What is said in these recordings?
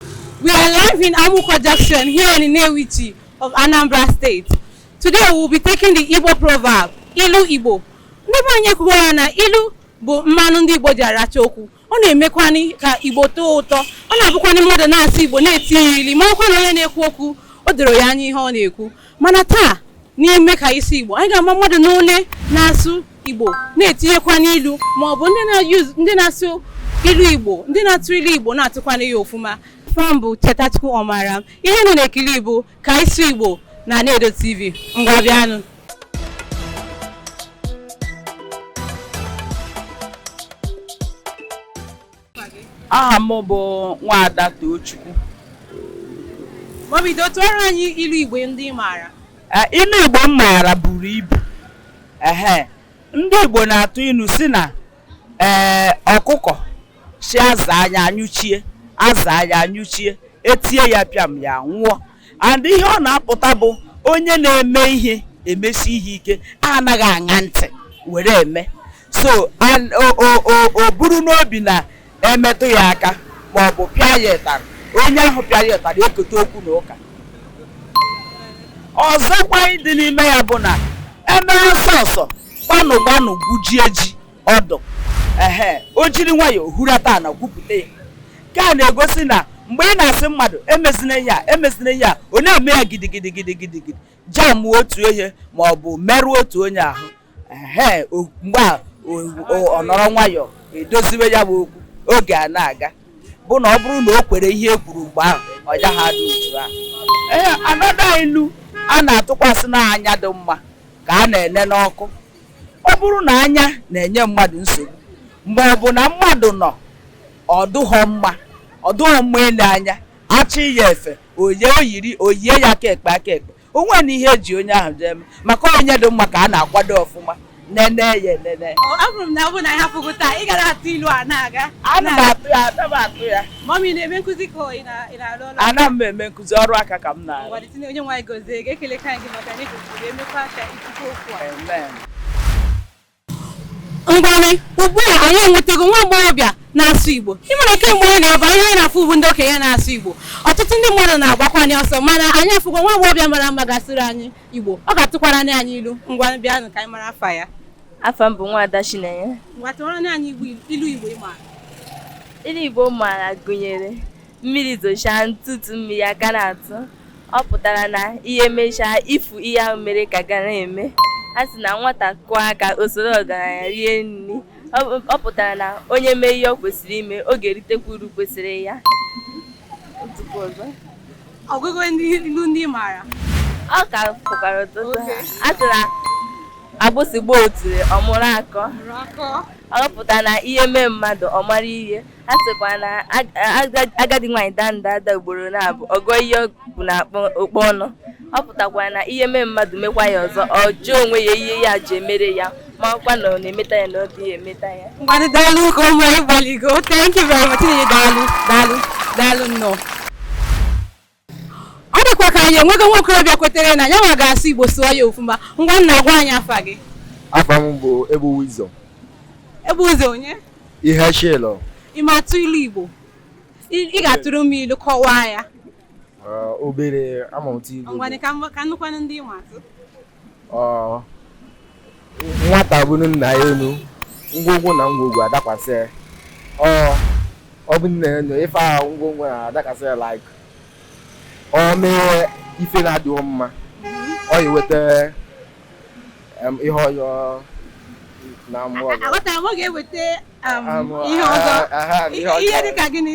We are live in Amuko Junction here in Nnewichi of Anambra State. Today we will be taking the Igbo proverb, Ilu Igbo. Ndị be anyị kwuwara na ilu bụ mmanụ ndị Igbo ji aracha okwu. Ọ na-emekwanị ka Igbo tọọ ụtọ. Ọ na-abụkwanị mmadụ na-asị Igbo na-etinye ilu, marakwa na onye na-ekwu okwu, o doro ya anya ihe ọ na-ekwu. mana taa n'ime ka ị sị igbo anyị ga-ama mmadụ n'ole na-asụ igbo na-etinyekwanị ilu ma ọ bụ ndị na-asụ ilu igbo ndị na-atụ ilu igbo na-atụkwanị ya ọfụma afa m bụ Chetachukwu Ọmara ihe unu na-ekiri bụ ka ị sị igbo na Anaedo TV ngwa bịanụ aha m bụ nwaada Tochukwu ngwa bido tụọrọ anyị ilu Igbo ndị ị maara eh, ilu Igbo m maara buru ibu ehe ndị Igbo na-atụ ilu sị na ee eh, ọkụkọ sị aza anya anyụchie aza anya anyụchie etie ya pịam ya nwụọ and ihe ọ na-apụta bụ onye na-eme ihe emesi ihe ike anaghị aṅa ntị were eme so o buru n'obi na emetụ ya aka ma ọ bụ pịa ya ịtarị onye ahụ pịa ya ịtarị ekote okwu na ụka ọzọkwa dị n'ime ya bụ na emere ọsọ ọsọ gbanụ gbanụ gwujie ji ọdụ ehe o jiri nwayọọ hurata ana gwupụta ya nke a na-egosi na mgbe ị na-asị mmadụ emezina ihe a emezina ihe a ọ na-eme ya gidigidi gidigidi gidi jam otu ihe ma ọ bụ merụọ otu onye ahụ ehe o- mgbe a o- o- ọ nọrọ nwayọọ edoziwe ya bụ okwu oge a na-aga bụ na ọ bụrụ na o kwere ihe e kwuru mgbe ahụ ọ gaghị adị otu ahụ ee another ilu a na-atụkwa sị na anya dị mma ka a na-ene n'ọkụ ọ bụrụ na anya na-enye mmadụ nsogbu ma ọ bụ na mmadụ nọ ọ dụghọ mma ọ dụghọ mma ile anya achị ya efe oye o yiri o yie ya aka ekpe aka ekpe onwe na ihe eji onye ahụ jee mee maka onye dị mma ka a na-akwado ọfụma nene ya enene afụrụ m na ọ bụ na a hapụ gị taa ị gara atụ ilu a na-aga ana m atụ ya ana m atụ ya mummy na-eme nkụzi ka ị na-arụ ọrụ ana m eme nkụzi ọrụ aka ka m na-arụ Onyenweanyị gozie gị ekelekwa anyị gị maka na ị kụziri emekwa ka ngwanị ugbu a anyị enwetago nwa agbọghọbịa na-asụ igbo ị mara kemgbe anyị na-abịa ihe anyị na-afụ bụ ndị okenye na-asụ igbo ọtụtụ ndị mmadụ na-agbakwa anyị ọsọ mana anyị afụgo nwa agbọghọbịa mara mma ga-asịrị anyị igbo ọ ga-atụkwara anyị ilu ngwanị bịanụ ka anyị mara afa ya afa m bụ nwaada chinenye ngwa tụwara anyị ilu igbo ị maara ilu igbo m maara gụnyere mmiri zochaa ntụtụ mmiri a ka na-atụ ọ pụtara na ihe mechaa ifu ihe ahụ mere ka ga na-eme a sị na nwata kwọọ aka o soro ọgaranya rie nri ọ pụtara na onye mee ihe ọ kwesịrị ime ọ ga-eritekwa uru kwesịrị ya ọgụgụ ndị ilu ndị maara ọ ka fọkwara ọtụtụ a sị na agbụsị gbaa otule ọ mụrụ akọ ọ pụtara na ihe mee mmadụ ọ mara ihe a sịkwa na agadi nwaanyị daa nda ada ugboro naabọ a gụọ ihe o bu n'ụkpa ọnụ ọ pụtakwa na ihe mee mmadụ mekwa ya ọzọ ọ jụọ onwe ya ihe ya ji emere ya ma ọkwa na ọ na-emeta ya na ọ dịghị emeta ya ngwanụ daalụ ka o nwere ị gbalịgo thank you very much daalụ daalụ daalụ nnọọ ọ dịkwa ka anyị enweghị nwa okorobịa kwetere na ya nwa ga-asụ igbo sụọ ya ofuma ngwa nna gwa anyị afa gị afa m bụ ebu wisdom ebu wisdom onye ihe chilọ ị ma atụ ilu igbo ị ị ga-atụrụ m ilu kọwaa ya obere ama m atụ igbo ngwanụ ka m- ka m nụkwanụ ndị ị ma atụ nwata bunie nna ya enu ngwongwo na ngwongwo adakwasị ya o bunie nna ya enu ife ahụ ngwongwo na-adakwasị ya like o mee ife na-adịghị mma ọ ya-eweta ihe ọjọọ na mmụọ ọzọ ihe dị ka gịnị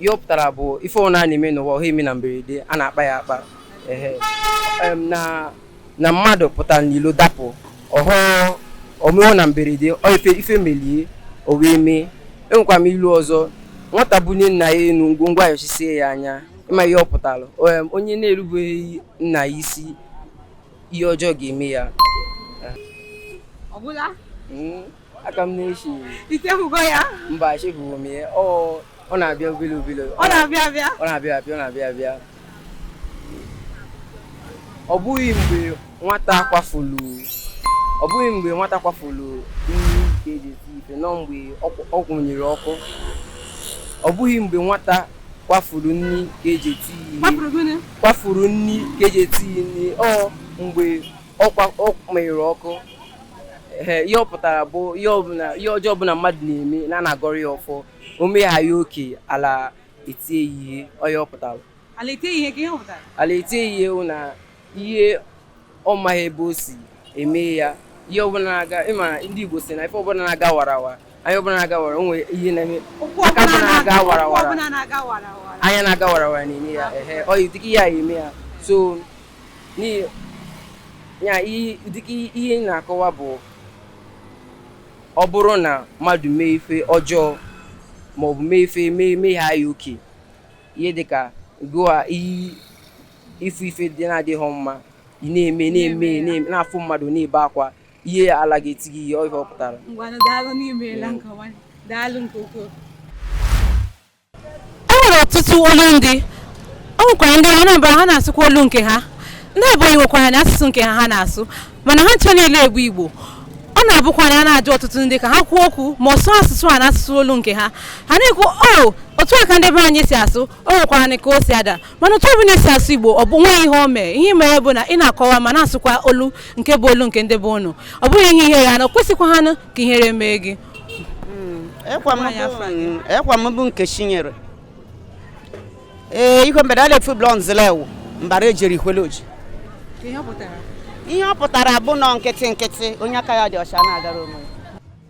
ihe ọ pụtara bụ ife ọbụna na-eme n'ụwa ọ ha eme na mberede a na-akpa ya akpa na mmadụ pụtara n'ilo dapụ ọhụụ o mee na mberede ife ife melụ o wee mee enwekwa m ilu ọzọ nwata bunie nna ya enu ngwongwo ayọchisie ya anya ị ma ihe ọ pụtara onye na-erubeghị nna ya isi ihe ọjọọ ga-eme ya a ka m na-eche i chefugo ya mba echefurọ m ya ọ ọ na-abịa obele obele ọ na-abịa abịa ọ na-abịa abịa ọ na-abịa abịa ọ bụghị mgbe nwata kwafulu ọ bụghị mgbe nwata kwafulu nri ka e ji eti ife na ọ mgbe ọ kwụ- ọ kwụnyere ọkụ ọ bụghị mgbe nwata kwafuru nri ka e ji eti ihe kwafuru gịnị kwafuru nri ka e ji eti ihe nri ọ mgbe ọ kwa ọ menyụrụ ọkụ ee ihe ọ pụtara bụ ihe ọbụla ihe ọjọọ ọbụla mmadụ na-eme na a na-agọrọ ya ọfọ o mee ha ya oke ala etie ya ihe ọ ya ọ pụtara ala etie ihe ka ihe ọ pụtara ala etie ya ihe bụ na ihe ọ maghị ebe o si eme ya ihe ọbụla na-aga ị ma ndị Igbo sị na ife ọbụla na-aga warawa anya ọbụla na-aga wara o nwe ihe na-eme aka ọbụla na-aga wara wara anya na-aga wara wara na-eme ya ehe ọ yi dịka ihe a eme ya so ya dịka ihe na-akọwa bụ ọ bụrụ na mmadụ mee ife ọjọọ ma ọ bụ mee ife mee mehie ya oke ihe dịka gụa iyi ife ife dị na-adịghị mma ị na-eme na-eme na-afụ mmadụ na-ebe akwa ihe ala ga-eti gị ihe ọ ihe ọ pụtara ngwanụ daalụ na i meela nkọwa daalụ nke ukwuu e nwere ọtụtụ olu ndị o nwekwara ndị Anambra ha na-asụkwa olu nke ha ndị Ebonyi nwekwara na asụsụ nke ha ha na-asụ mana ha ncha niile bụ Igbo ọ na-abụkwa na a na-ajụ ọtụtụ ndị ka ha kwuo okwu ma ọ sụọ asụsụ a na asụsụ olu nke ha ha na-ekwu o oh, otu a ka ndị be anyị si asụ o nwekwara ka o si ada mana otu ọbụla esi asụ igbo o nweghị ihe o mee ihe mere bụ na ị na-akọwa ma na-asụkwa olu nke bụ olu nke ndị be ụnụ ọ bụghị ihe ihere ana kwesịkwahanụ ka ihere mee gị ọkwa m bụ Nkechinyere ee ihe mere a na-efu blọ nzilewu mbara ejiri ihweloji ihe ọ pụtara bụ nọ nkịtị nkịtị onye aka ya dị ọcha na-agara onwe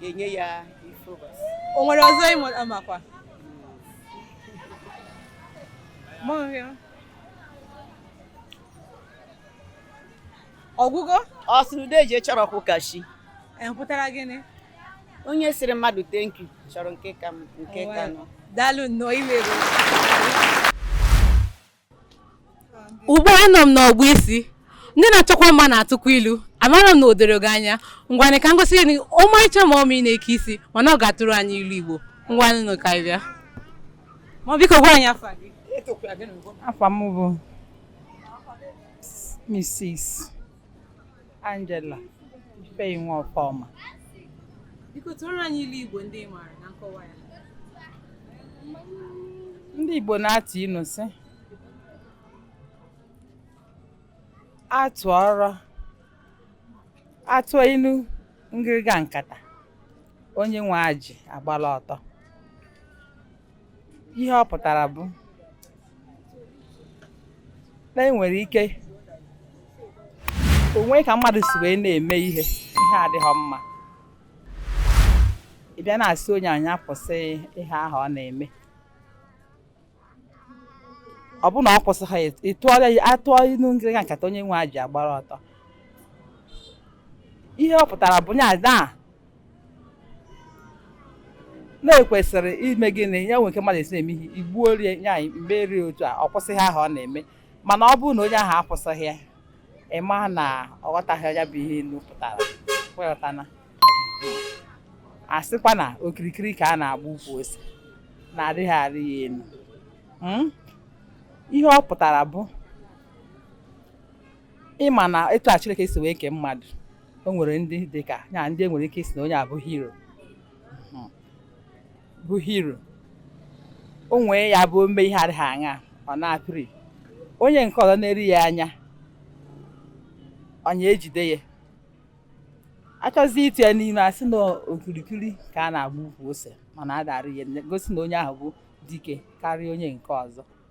ga-enye ya ife ụbọchị o nwere ọzọ ịmụ amakwa Mọhịa. ọ gwụgo ọ sị na ude eji chọrọ ọkwụ ka chi e pụtara gịnị onye sịrị mmadụ thank you chọrọ nke ka m- nke ka nụ daalụ nnọọ imerụ ugbu a nọ m n'ọgbọ isi ndị na-achọkwa mma na-atụkwa ilu amara m na o doro gị anya ngwanụ ka m gosi gị ọmarịcha mummy na-eke isi mana ọ ga-atụrụ anyị ilu igbo ngwanụ ka anyị bịa ma biko gwa anyị afa gị afa m bụ Mrs. Angela Ifeyinwa Ọfọma Biko tụọrọ anyị ilu Igbo ndị ị maara na nkọwa ya. ndị Igbo na-atụ inu sị atụọrọ atụọ inu ngịrịga nkata onye nwe ajị agbala ọtọ ihe ọ pụtara bụ na e nwere ike o nwee ka mmadụ si wee na-eme ihe ihe adịghị mma ị bịa na-asị onye a nya kwụsị ihe ahụ ọ na-eme ọ bụrụ na ọ kwụsịghị ya, ị tụọrọ ya atụọ inu ngịrịga nkata onye nwe ajị agbara ọtọ ihe ọ pụtara bụ ya na na-ekwesịrị ime gịnị ya nwere ike mmadụ esi na-eme ihe igbuo rie ya mgbe rie otu a ọ kwụsị ihe ahụ ọ na-eme mana ọ bụrụ na onye ahụ akwụsịghị ya ị ma na ọ ghọtaghị ya bụ ihe ilu pụtara ị ghọtana a sịkwa na okirikiri ka a na-agba ukwu ose na adịghị arị ya elu hmm? ihe ọ pụtara bụ ịma na etu a Chineke si wee kee mmadụ o nwere ndị dị ka ya ndị e nwere ike ịsị na onye a bụ hero hmm. bụ hero o nwee ya bụ ome ihe adịghị aṅa ọ na-apịrị onye nke ọzọ na-eri ya anya onye ejide ya achọzi ịtụ ya n'ime a sị na okirikiri ka a na-agba ukwu ose mana a da-arị ya gosi na onye ahụ bụ dike karịa onye nke ọzọ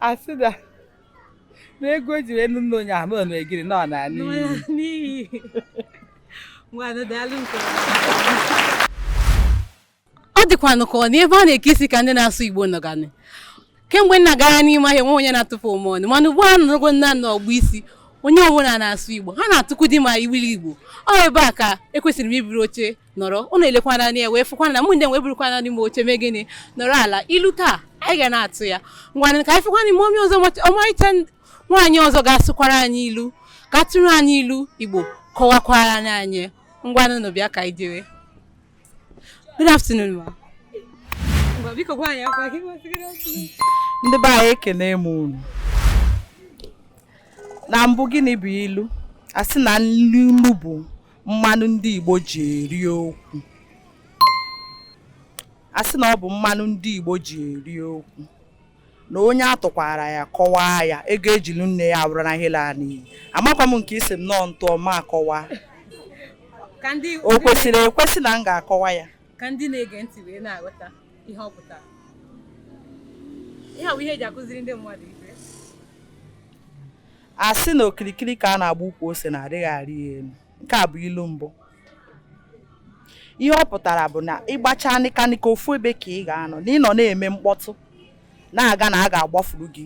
a sị na ego e jiri nụ nne onye ahụ na egiri na ọ na n'iyi ọ dịkwanụ ka ọ na ebe a na-eke isi ka ndị na-asụ Igbo nọganị kemgbe m na-agarị n'ime ahịa nwe onye na-atụpụ m ọnụ mana ugbu a nụrụgo nna n'ọgbọ isi onye ọbụla na-asụ Igbo ha na-atụkwudị ma ilu Igbo ọ ebe a ka ekwesịrị m iburu oche nọrọ unu elekwanụ anya wee fụkwa na mụ ndị wee burukwanụ m oche mee gịnị nọrọ ala ilu taa anyị ga na-atụ ya ngwanụ ka anyị fụkwa na mummy ọzọ ọmarịcha nwaanyị ọzọ ga-asụkwara anyị ilu ka tụrụ anyị ilu Igbo kọwakwara anyị ngwanụ nụ bịa ka anyị jere good afternoon ma ndị be anyị ekene m unu na mbụ gịnị bụ ilu a sị na ilu bụ mmanụ ndị Igbo ji eri okwu a sị na ọ bụ mmanụ ndị Igbo ji eri okwu na onye a tụkwara ya kọwaa ya ego e ji lụ nne ya abụrụ na ihe laa n'iyi amakwa m nke ị sị m nọọ m tụọ m akọwa o kwesịrị ekwesị na m ga-akọwa ya ka ndị na-ege ntị wee na-aghọta ihe ọ pụtara ilu bụ ihe eji akụziri ndị mmadụ a sị na okirikiri ka a na-agba ukwu ose na adịghị arị ya elu nke a bụ ilu mbụ ihe ọ pụtara bụ na ị gbachaa nịkanịka ofu ebe ka ị ga-anọ na ị nọ na-eme mkpọtụ na-aga na a ga-agbafuru gị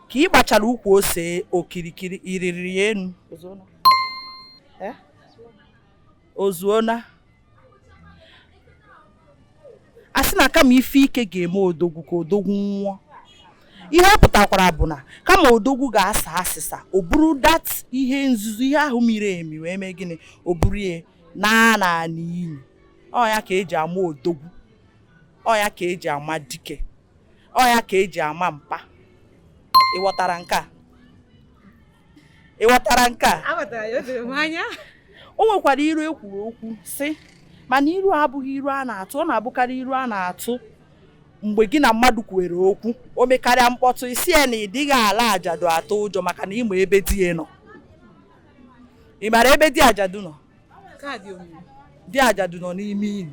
ka ị gbachara ukwu ose okirikiri ị rịrị ya enu o zuona a sị na kama ife ike ga-eme odogwu ka odogwu nwụọ ihe ọ pụtakwara bụ na kama odogwu ga-asa asịsa o buru that ihe nzuzo ihe ahụ miri emi wee mee gịnị o buru ya naa n'ili ọ ya ka eji ama odogwu ọ ya ka eji ama dike ọ ya ka eji ama mpa ị ghọtara nke a ị ghọtara nke a aghọtara ya o doro m anya o nwekwara iru ekwuru okwu sị mana iru abụghị iru a na-atụ ọ na-abụkarị iru a na-atụ mgbe gị na mmadụ kwuwere okwu o mekarịa mkpọtụ ị sị ya na ị dịghị ala ajadu atụ ụjọ maka na ị ma ebe di ya nọ ị mara ebe di ajadu nọ di ajadu nọ n'ime ili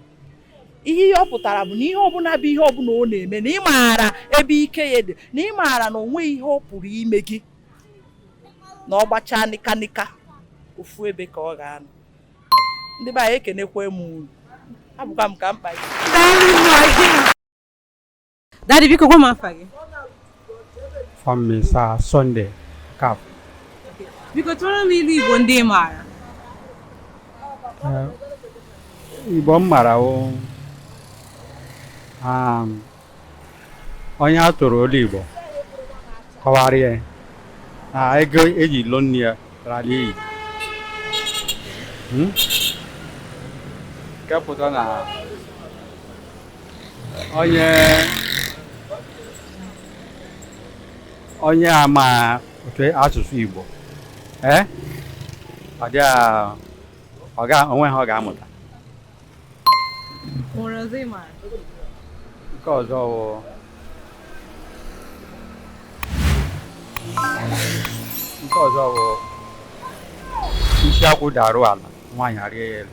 ihe ihe ọ pụtara bụ na ihe ọbụla bụ ihe ọbụla ọ na-eme na ị maara ebe ike ya dị na ị maara na o nweghị ihe ọ pụrụ ime gị na ọ gbachaa nịka nịka ofu ebe ka ọ ga-anọ ndị be anyị ekenekwa m unu abụkwa m ka mkpa Daddy biko gwa m afa gị. Afa m Mister Sunday Kaf. Biko tụọrọ m ilu Igbo ndị ị maara. Igbo m mara o um, onye a tụrụ ilu Igbo kọwara ya na ego e ji lụọ nne ya rara iyi hmm? nke pụta na onye onye amaghị asụsụ Igbo ee eh? ọ dị ọ ga o nweghị ihe ọ ga-amụta nke ọzọ bụ nke ọzọ bụ isi akwụ daru ala nwaanyị arịa ya elu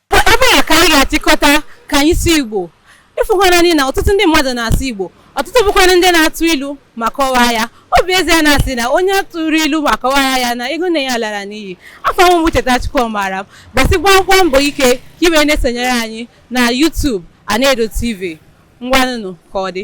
ebe a ka anyị ga-achịkọta ka anyị sụọ Igbo ị fụkwanụ na ọtụtụ ndị mmadụ na-asụ Igbo ọtụtụ bụkwa ndị na-atụ ilu ma kọwaa ya ọ bụ ezie na a sị na onye tụrụ ilu ma kọwaa ya na ego nne ya lara n'iyi afa m bụ Chetachukwu maara m gbasibakwa mbọ ike ka i wee na-esonyere anyị na YouTube Anaedo TV ngwanụnụ ka ọ dị